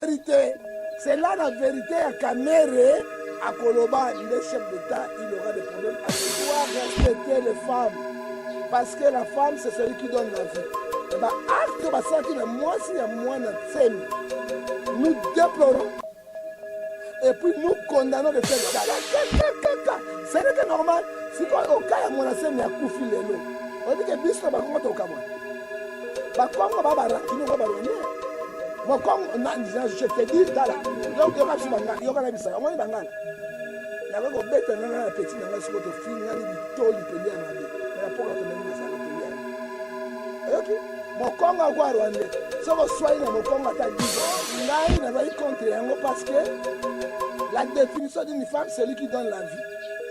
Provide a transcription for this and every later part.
Verite, c'est là la verite ya Kamere akoloba nde chef d'État, il aura des problèmes. Il doit respecter les femmes parce que la femme c'est celui qui donne la vie. Et eh ba ben, acte basalaki na mwasi ya mwana Tsemi, nous déplorons et puis nous condamnons de faire ça. Ce n'est que normal. sikoyo oka ya mwana Tsemi akufi lelo, oyebi ke biso na bakongo tokamwa bakongo ba barakino ba barwandais mokongo je te dis tala yoka biso bangala yoka na bisaka omoni bangala nakoki kobeta nga na peti na ngai soko tofingani bitoli peli ya mabe na mpoka tomemi masala peli ya oyoki mokongo akwa rwandais soki oswai na mokongo ata dizo ngai nazali contre yango parce que la définition d'une femme celui qui donne la vie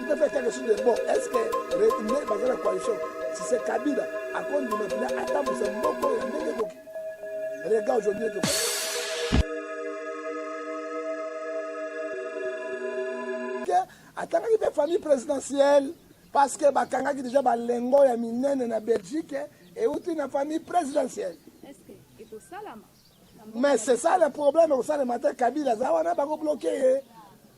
Il peut faire quelque chose de bon. Est-ce que le baza na coalition si c'est Kabila akondima mpena atambusa mboko ya ndenge boki rega aujourd'hui to atangaki mpe famille présidentielle parce que bakangaki déjà balengo ya minene na belgique euti na famille présidentielle mais c'est ça le problème ekosalema te kabila aza wana bakobloke ye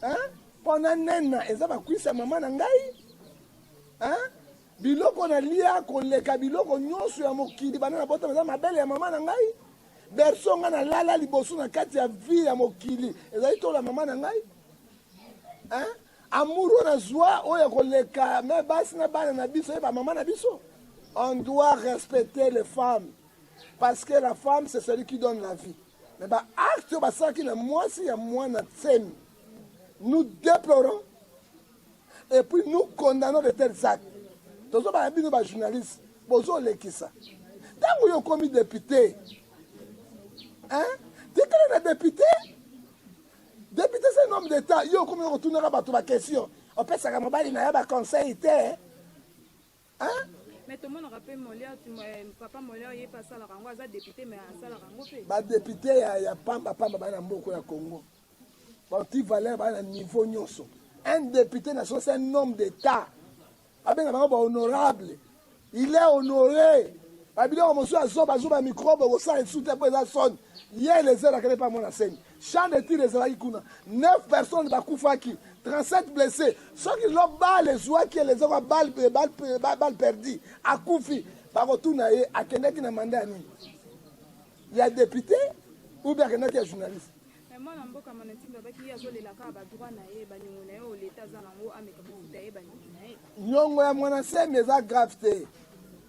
hein? pona nena eza bakwisa mama na ngai hein? biloko na lia koleka biloko nyonso ya mokili bana na botama eza mabele ya mama na ngai berso ngai nalala liboso na kati ya vie ya mokili ezali tola mama na ngai hein? amour oyo nazwa oyo ya koleka me basi na bana na biso ye bamama na biso on doit respecter les femmes parce que la femme c'est celui qui donne la vie Mais ba acte basalaki na mwasi ya mwana Tsemi, nous déplorons et puis nous condamnons de tels actes. Tozobaya bino ba journalistes bozolekisa ntango yo okomi depute hein? tikala na depute depute se nom d'état yo okomi kotunaka bato bakestion opesaka mobali na ya baconseil te Hein? Mais tout le monde rappelle Molière, euh, papa Molière, il pas ça la rango, aza député mais ça la rango fait. Ba député ya ya pamba pamba ba na mboko ya Congo. Ba ti valeur ba na niveau nyoso. Un député na so c'est un homme d'état. Abenga ba ba honorable. Il est honoré. Ba biloko mosusu azoba azoba microbe ko sala sute po eza son. Ye les heures akele pa mona seni. Champ de tir ezalaki kuna 9 personnes bakufaki 37 blesses soki lo bale ezuaki ye lezoko bale perdi akufi bakotuna ye akendaki na manda ya nini ya depute ou bien akendaki ya journaliste mwana mboka mwana ntimbe abaki ye azolela kaka badroit na ye baniongo na ye oyo leta aza nango ameka kofuta ye baniongo na ye nyongo ya mwana nsemi eza grave te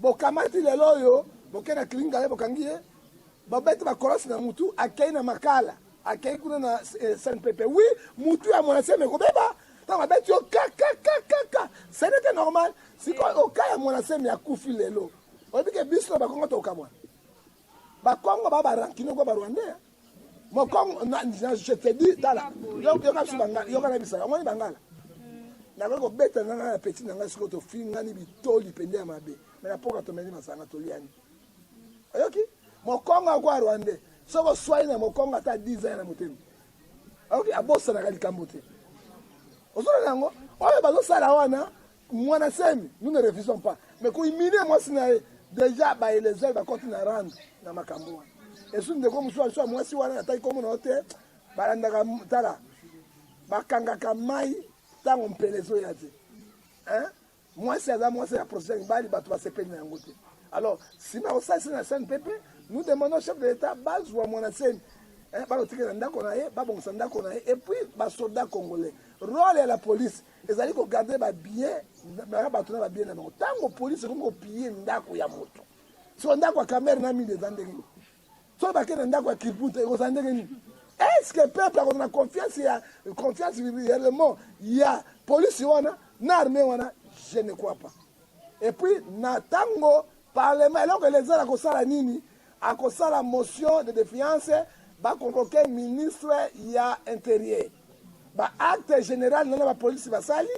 Bokamati lelo oyo boke na clinique ngale bokangi ye bobeti ba kolos na mutu akei na makala akei kuna na eh, SNPP oui mutu ya mwana seme kobeba ntango abeti yo kakakakaka ce n'était normal sikoyo oka ya mwana seme akufi lelo oyebi ke biso na bakongo tokamwana Bakongo ba ba rancune ko ba rwandais. Mokongo na je te dis tala. Yoka biso bangala, yoka na biso. Omoni bangala. Nakoki kobeta na ngai na petit na ngai siko tofingani bitoli pende ya mabe. Me na poka tomeli masanga toliani. Oyoki? Mokongo akwa rwandais. Soko swai na mokongo ata 10 ans na motema. Oyoki abosanaka likambo te. Ozona nango oyo bazosala wana Mwana semi nous ne refusons pas mais ko humilier mwasi na ye deja ba elezeur bakoti na rando na makambo wana esu ndeko mosusu alisuwa mwasi wana nataki komona yo te balandaka tala bakangaka mai ntango mpela ezoya te mwasi aza mwasi ya procession ya mibali bato basepeli na yango te alors nsima ya kosalisa na sene pepe nous demandons chef de l'état bazwa mwana seni bakotikela ndako na ye babongisa ndako na ye epuis basoda congolais role ya la police ezali ko garder ba billets na bato na ba billets na bango. Tango police ekomi ko piller ndako ya moto, so ndako ya Kamerhe na Mimi eza ndenge nini? So bakende na ndako ya Kirputa ekozala ndenge nini? Est-ce que peuple akozala na confiance ya confiance réellement ya police wana na armée wana? Je ne crois pas. Et puis na tango parlement eloko elezala kosala nini? Akosala motion de defiance ba convoquer ministre ya interieur. Ba actes general na ba police basali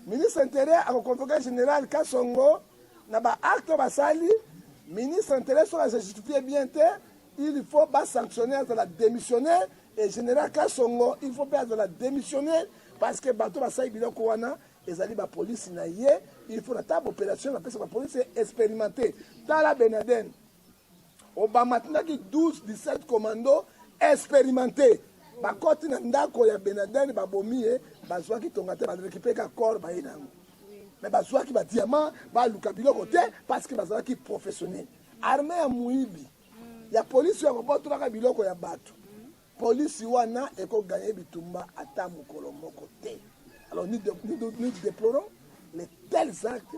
ministre interieur ako convoquer general Kasongo na ba actes basali ministre interieur soki se justifier bien te il faut ba sanctionner la démissionner et général Kasongo il faut perdre la démissionner parce que bato basali biloko wana ezali bapolisi na ye il faut na ntango opération napesa bapolisi expérimenté tala benaden Obama atindaki 12 17 commando experimente bakoti na ndako ya Benaden babomi ye, bazwaki tonga te, barekipe ka corps baye na yango me bazwaki ba diamant, baluka biloko te parce que bazalaki professionnel. Armée ya muibi ya polisi ya kobotolaka biloko ya bato, polisi wana ekoganye bitumba ata mokolo moko te. Alors nous, nous, nous déplorons les tels actes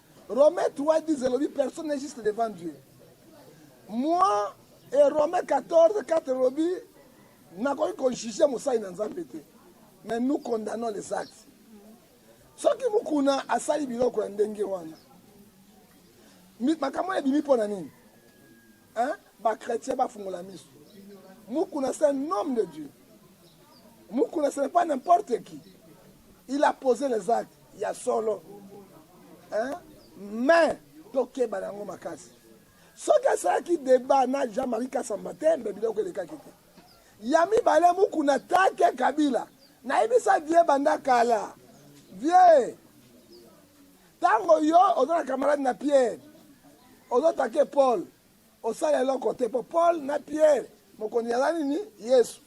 Romains 3, 10 elobi personne n'est juste devant Dieu. Moi et Romains 14, 4 elobi nakoki kojuge mosali na Nzambe te. Mais nous condamnons les actes. Soki mukuna asali biloko ya ndenge wana. Makambo ebimi mpo na nini? Hein? Ba chrétiens ba fungola misu. Mukuna c'est un homme de Dieu. Mukuna ce n'est pas n'importe qui. Il a posé les actes ya solo. Hein? Mais tokeba na yango makasi. Soki asalaki débat na Jean-Marie Kasamba te, mbe biloko elekaki te. Ya mibale Mukuna take Kabila. Nayebisa vie banda kala. Vie Tango yo oza na camarade na Pierre ozo take Paul osala eloko te po Paul na Pierre mokonzi yaza nini Yesu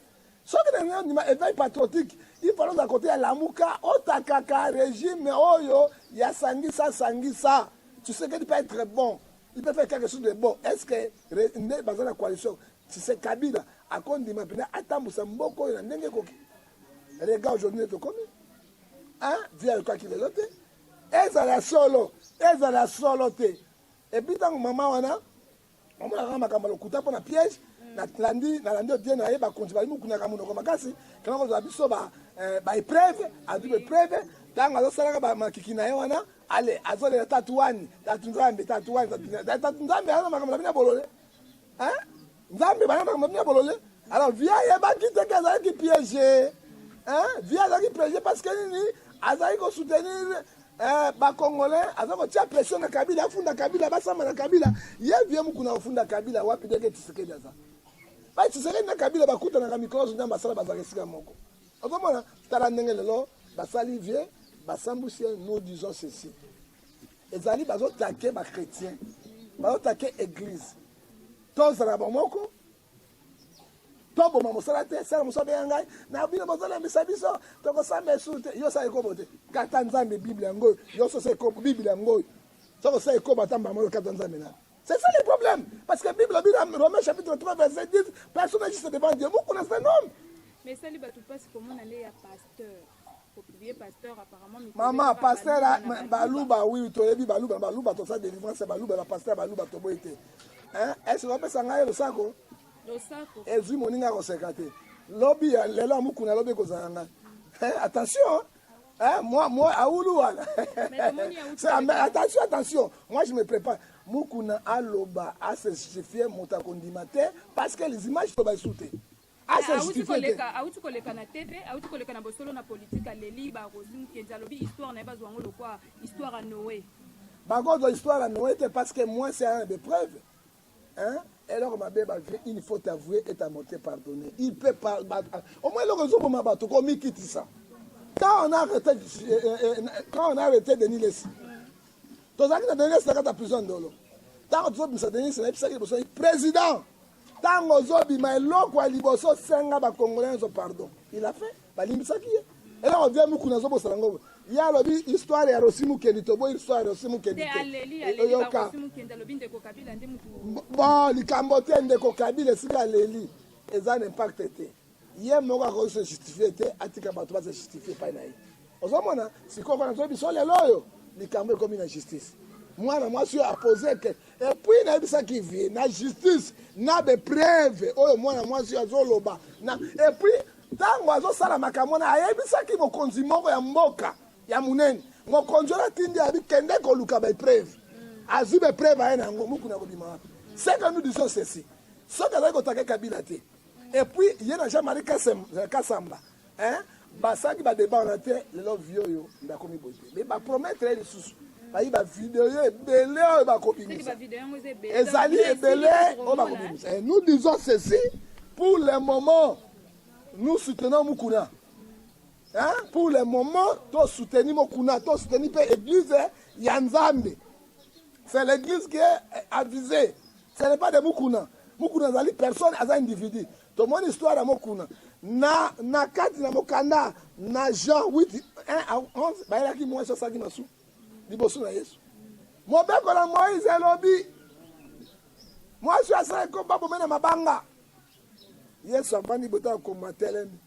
soki na nini ondima eveil patriotique il fallait oza kote ya lamuka otakaka regime oyo ya sangisa sangisa Tshisekedi peut être bon il peut faire quelque chose de bon est ce que nde baza na coalition Tshisekabila akondima mpena atambusa mboko oyo na ndenge ekoki regarde aujourd'hui nde tokomi vie ayokaki lelo te ezala solo ezala solo te epuis ntango mama wana omonaka makambo ya lokuta mpo na piège nalandi nalandi odie na ye bakonzi bali mokunaka monoko makasi kama kozala biso eh, baepreuve azwi baepreuve ntango azosalaka bamakiki na ye wana ale azolela tatu wani tatu nzambe tatu wani tatu nzambe aza makambo na bino ya bolole Nzambe bana na mami ya bolole. Alors via ayebaki te ke azalaki piège. Hein? Via azalaki piège parce que nini azalaki ko soutenir eh, ba congolais aza kotia pression na Kabila afunda Kabila basamba na Kabila ye vie mukuna ofunda Kabila wapi deke Tshisekedi aza ba Tshisekedi na Kabila bakutanaka mikolo nyonso nzambe asala bazalaka esika moko okomona tala ndenge lelo basali vie basambusi nous disons ceci ezali bazotake bachrétien bazotake église tozala bomoko toboma mosala te sala mosala mpe ya ngai na bino bozolembisa biso tokosamba esu te yo osala ekobo te kata nzambe bible yango oyo yo sosa ekobo bible yango oyo soki osala ekobo ata mbamba oyo kata nzambe nani C'est ça le problème. Parce que la Bible dit dans Romains chapitre 3, verset 10, personne n'agisse devant Dieu. Vous connaissez un homme. Mais ça, les bateaux passent comment aller à pasteur. mama pasteur ah, baluba oui toyebi baluba baluba toza délivrance ya baluba bapasteur baluba toboyi te ese opesa ngai losako ezwi moninga akoseka te lobi ya lelo ya mokuna lobi ekozala ngai attention Hein, moi, moi, à Oulouala. attention, attention. Moi, je me prépare. Mukuna Aloba a se justifié Motakondimate parce que les images sont sous Awuti koleka, awuti koleka na TV, awuti koleka na bosolo na politique, aleli ba Rosi Mukendi, alobi histoire na ye bazwa yango lokwa histoire ya Noe. Bakozwa histoire ya Noe te parce que moi c'est un des preuves. Hein? eloko mabe bavie une faute avouée est à mote pardonne il peut pas omoi eloko ezoboma bato komikitisa quand on a arrêté euh, euh, euh, quand on a arrêté denis lesi tozalaki na denis lesi na kati ya prison ndolo ntango tozobimisa denis lesi nayebisaki liboso président Tango ozo bima eloko ya liboso senga ba congolais nzo pardon. Il a fait balimbisaki ye. Eloko vie muku nazo bosala ngo. Ye alobi histoire ya Rosi Mukendi toboyi histoire ya Rosi Mukendi te. Oyoka. Bon likambo te ndeko Kabila esika aleli eza na impact te. ye moko akoki se justifie te atika bato baza justifie epai na ye ozomona sikoyo mpona toyebi so lelo oyo likambo ekomi na justice mwana mwasi oyo apose ke epuis nayebisaki vie na justice na bepreve oyo mwana mwasi oyo azoloba na epuis ntango azosala makambo wana ayebisaki mokonzi moko ya mboka ya monene mokonzi wana atindi abi kende koluka bepreve azwi bepreve aye na yango mokuna kobima wapi seke nous disons ceci soki azali kotake kabila te Et puis ye na Jean-Marie euh, Kassamba hein basalaki ba débat wana te lelo vie oyo nde akomi boye te mais ba promettre ye lisusu bayi ba video ebele oyo bakobimisa ezali ebele oyo bakobimisa et nous disons ceci pour le moment nous soutenons Mukuna hein pour le moment to soutenu Mukuna to soutenu pe église ya Nzambe c'est l'église qui est avisée Ce n'est pas de Mukuna. Mukuna azali personne, aza individu. Tomoni histoire ya Mukuna. Na, na kati na mokanda na Jean 8, 1 à 11, bayelaki mwasi asalaki masu liboso na Yesu. Mobeko na Moïse elobi mwasi oyo asalaki ko babome na mabanga. Yesu avandi bota ya koma telemi.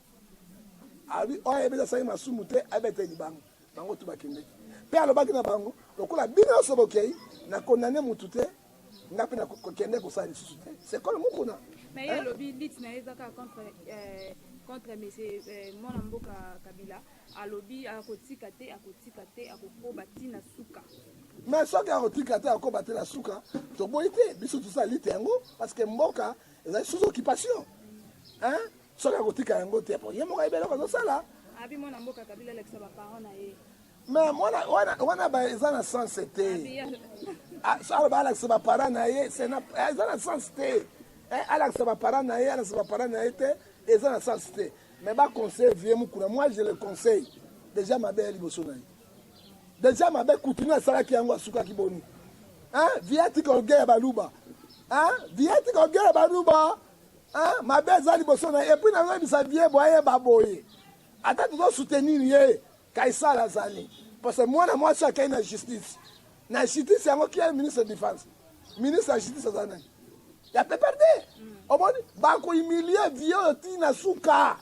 Abi oyo ayebeli asalaki masumu te abeta libanga. Bango tu bakendeki. Mpe alobaki na bango lokola bino nyonso bokei na kondane motu te nga mpe nakokende kosala lisusu te sekolo mokuna mais ye alobi lit na ye eza kaka contre euh, contre monsieur euh, mwana mboka kabila alobi akotika te akotika te akokoba ti na suka mais soki akotika te akoba te na suka toboyi te biso tosala lite yango parce que mboka ezali sous occupation hein soki akotika yango te po ye moko ayebi eloko azosala abi mwana mboka kabila alakisa baparent na ye me mwana wana eza na sens te ah, aloba alakisa baparent na ye eza na sens te eh, alakisa baparent na ye alakisa baparent na ye te eza na sens te me baconseille vie mokuna moi je le conseille deja mabe ya liboso na ye deja mabe kutini asalaki yango asukaki boni vie atika ogeya baluba vie atika ogeya baluba Hein, mabe eza liboso na et puis na yebisa vie boye ba boye. Ata tuzo soutenir ye Kaisala azali parce que mwana mwasi akei na justice. Na justice yango qui est ministre de défense? Ministre ya justice aza nani? Ya PPRD. Omoni ba ko humilier vie oyo ti na suka.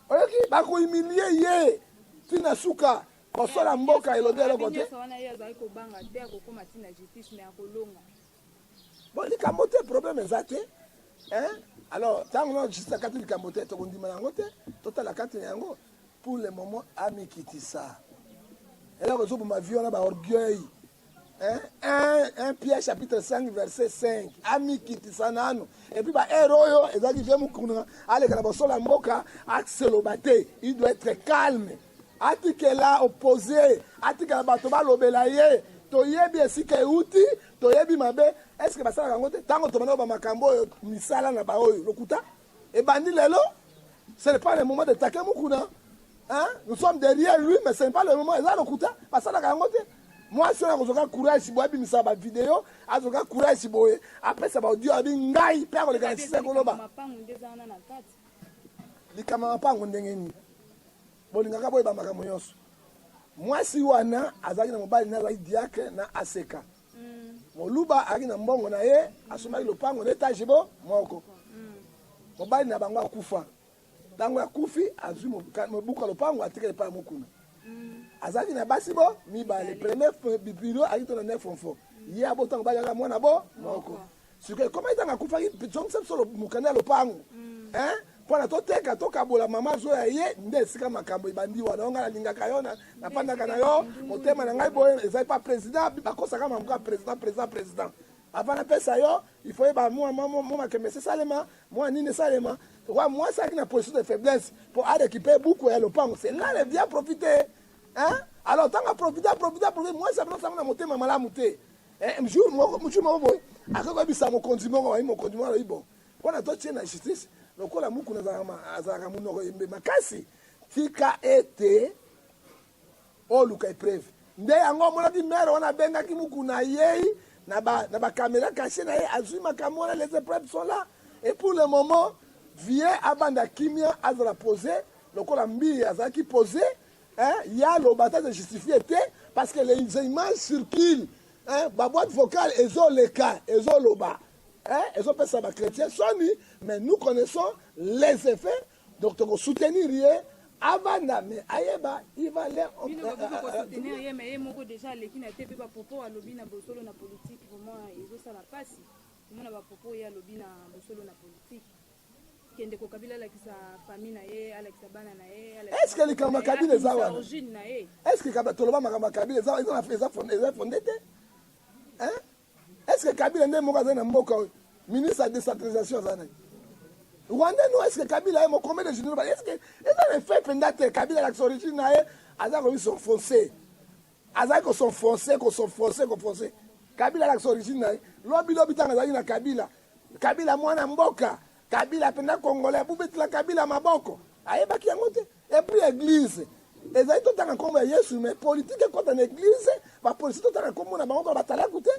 Oyoki ba ko humilier ye ti na suka. Kosola mboka elobi eloko te. Bon likambo te problème eza te hein alors ntango na justin kati likambo te tokondima yango te totala kati na yango pour le moment amikitisa eloko ezoboma vie wana baorgueil un pierre chapitre 5 verset 5 amikitisa nano epuis baheure oyo ezalaki vie mokuna aleka na bosolo ya mboka aseloba te il doit être calme atikela oppose atikela bato balobela ye toyebi esika euti toyebi mabe eske basalaka yango te ntango tobandaka bamakambo oyo misala na baoyo lokuta ebandi lelo ce n'est pas le moment de take mukuna hein? nous sommes derrière lui mais ce n'est pas le moment eza lokuta basalaka yango te mwasi oyo akozwaka courage boye abimisa bavideo azwaka courage boye apesa baaudio abi ngai mpe akoleka na sisa koloba likama mapango ndenge nini bolingaka boyeba makambo nyonso mwasi wana azalaki na mobali na azalaki diakre na aseka mm. moluba azalaki na mbongo na ye asomaki lopango na etage bo moko mm. mobali na bango akufa ntango akufi azwi mobuku ya lopango atikali epai mokuna mm. azalaki na basi bo mibale premier bipilo ayaki to na nefronfo ye abotango bayaka mwana bo moko sikoyo ekoma etanga akufaki zongisa biso mokanda ya lopango mm. eh? mpona toteka tokabola mama zo ya ye nde esika makambo ebandi wana onga nalingaka yo napandaka na yo motema na ngai boye ezali pa président bakosaka mambo kaka président président président avant napesa yo il faut yeba mwa makembe esalema mwa nini esalema wa mwasi aki na position de faiblesse mpo arekipe buku ya lopango c'est là le bien profite hein alors ntango aprofite aprofite aprofite mwasi abinosango na motema malamu te Eh, jour moko jour moko boye akoki koyebisa mokonzi moko wayi mokonzi moko alobi bon mpo na totie na justice lokola mukuna azalaka monoko yembe makasi tika ete oluka epreuve nde yango omonaki mere wana abengaki mukuna ayei na bakamera ba kashe na ye azwi makambo wana les epreuves sont là et pour le moment vie abanda kimia azala pose lokola mbiye azalaki pose Hein, ye aloba ata se justifier te parce que les images circulent hein, ba boîte vocale ezoleka ezoloba hein, ezopesa ba chrétiens soni mais nous connaissons les effets donc toko soutenir ye avanda mais ayeba il va leur bino ba boko soutenir ye mais ye moko déjà aleki na te pe ba propos alobi na bosolo na politique vraiment ezosala pasi komona ba propos ye alobi na bosolo na politique kende ko kabila alakisa famille na ye alakisa bana na ye est ce que likambo ya kabila eza wana origine na ye est ce que kabila toloba makambo ya kabila eza eza na eza fonde eza fonde te hein est ce que kabila nde moko azali na mboka oyo ministre ya décentralisation aza na ye rwanda no est ce que kabila ye mokombe de général est ce que eza na effet mpenza te kabila alakisa origine na ye aza komi s'enfoncer Azali ko s'enfoncer, ko s'enfoncer, ko foncer. Kabila alakisa origine na ye. Lobi lobi tango azalaki na Kabila. Kabila mwana mboka. Kabila penda congolais. Bobetela Kabila maboko. Ayebaki yango te. Et puis eglise. Ezali totanga kombo ya Yesu mais politique ekota na eglise. Ba policiers totanga kombo na bango ba batalaku te.